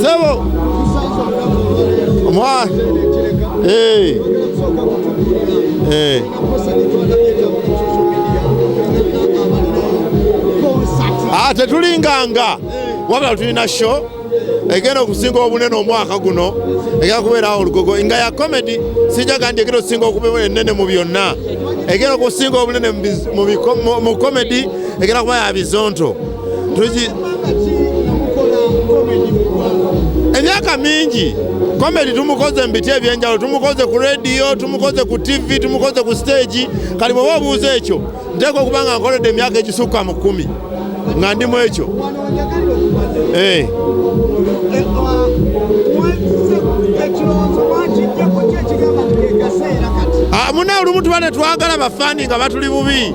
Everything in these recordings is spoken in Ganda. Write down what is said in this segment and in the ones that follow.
Sebo. Mwa. Eh. Eh. Ah, tetulinganga. Wabula tulina show egenda okusinga obunene omwaka guno egenda kubeerawo olugogo nga ya comedy sijaga nti egenda okusinga okubeera enene mu byonna egenda okusinga obunene mu comedy egenda kuba ya bizonto emyaka mingi komedi tumukoze mu biti ebyenjawulo tumukoze ku rediyo tumukoze ku tivi tumukoze ku siteegi kati bweoba obuuza ekyo nteeka okuba nga nkoledde emyaka egisukka mu kkumi nga ndimu ekyo eh. Ah, muna olumu tuba netwagala bafaani nga batuli bubi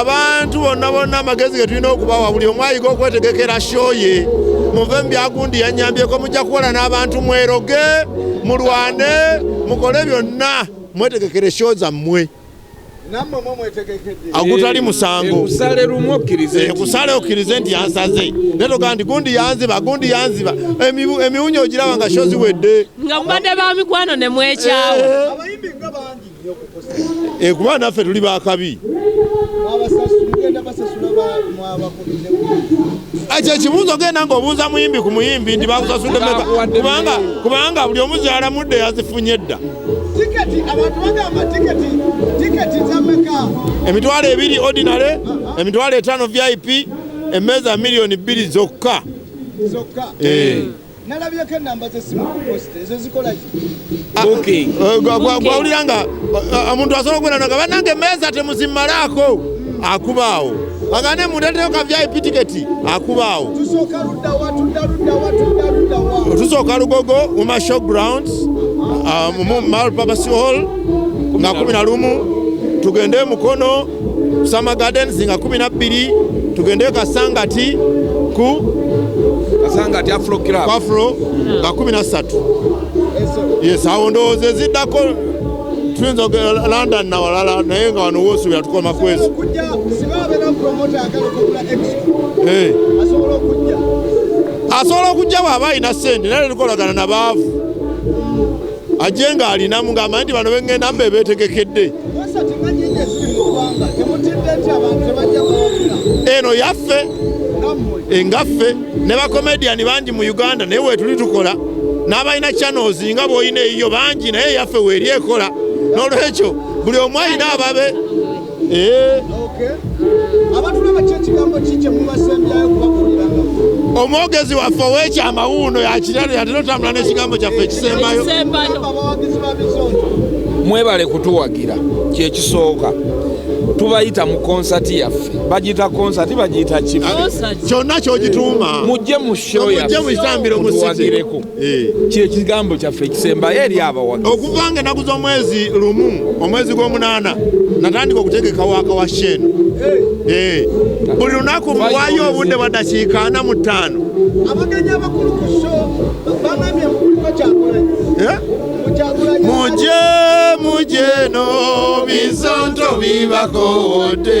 abantu bonna bonna amagezi ge tulina okubawa buli omu ayiga okwetegekera shoye muve mu byagundi yanyambyeko mujja kukola n'abantu mweroge mulwane mukole byonna mwetegekere sho zammwe agutali musango kusale lumu okkirize eh, kusale okkirize nti yansaze naye togaa nti gundi yanziba gundi yanziba emiwunya ogiraba nga sho ziwedde nga mubadde ba mikwano ne mwekyawa eh. eh, kuba naffe tuli bakabi ekyo ekibuuzo genda nga obuuza muyimbi ku muyimbi nti bakusasudde kubanga buli omuzaala mudde yazifunye dda Tiketi abantu bagamba tiketi tiketi zameka emitwalo ebiri ordinary emitwalo etaano vip emmeeza miliyoni bbiri zokka zokka eh. nalabyeko enamba zesimuwulira ah, nga ah, omuntu asobola okubera nga banange emmeeza temuzimalaako akubaawo agane mundeteyo ka vip tiketi akubaawo tusooka lugogo mu mashow grounds uh, mu malpapasi hall nga kumi na lumu tugende e mukono summer gardens nga kumi na bbiri tugende e kasangati ku kasangati afro club afro nga kumi na ssatu yes awo ndowooza eziddako tuyinza okugenda london nawalala naye nga wano wosuubira tukoma kwezi eh. asobola okujja bwaba alina sente naye tukolagana nabaavu ajje nga alinamu ngaamanyi nti bano bengenda mba ebetegekedde eno yaffe engaffe ne bakomediyani bangi mu uganda naye wetuli tukola n'abalina channels nga bwolina eyiyo bangi naye yaffe weeri ekola n'olwekyo buli omu alina ababe eh. omwogezi waffe owekyama wuuno yakirano yatera otambula n'ekigambo kyaffe ekisembayo mwebale kutuwagira kyekisooka tubayita mu konsati yaffe bagiyita konsati bagiyita kife kyonna kyogituuma mujje mu showmujjemukitambiro musitireko eh. kyekigambo kyaffe ekisembayo eri abawagi okuva nga enaku z'omwezi lumu omwezi gw'omunaana natandika okutegeka waka wa shen eh. eh. buli lunaku muwayo obudde bwa dakiika ana mu ttaano muje muje no bizonto bibakowodde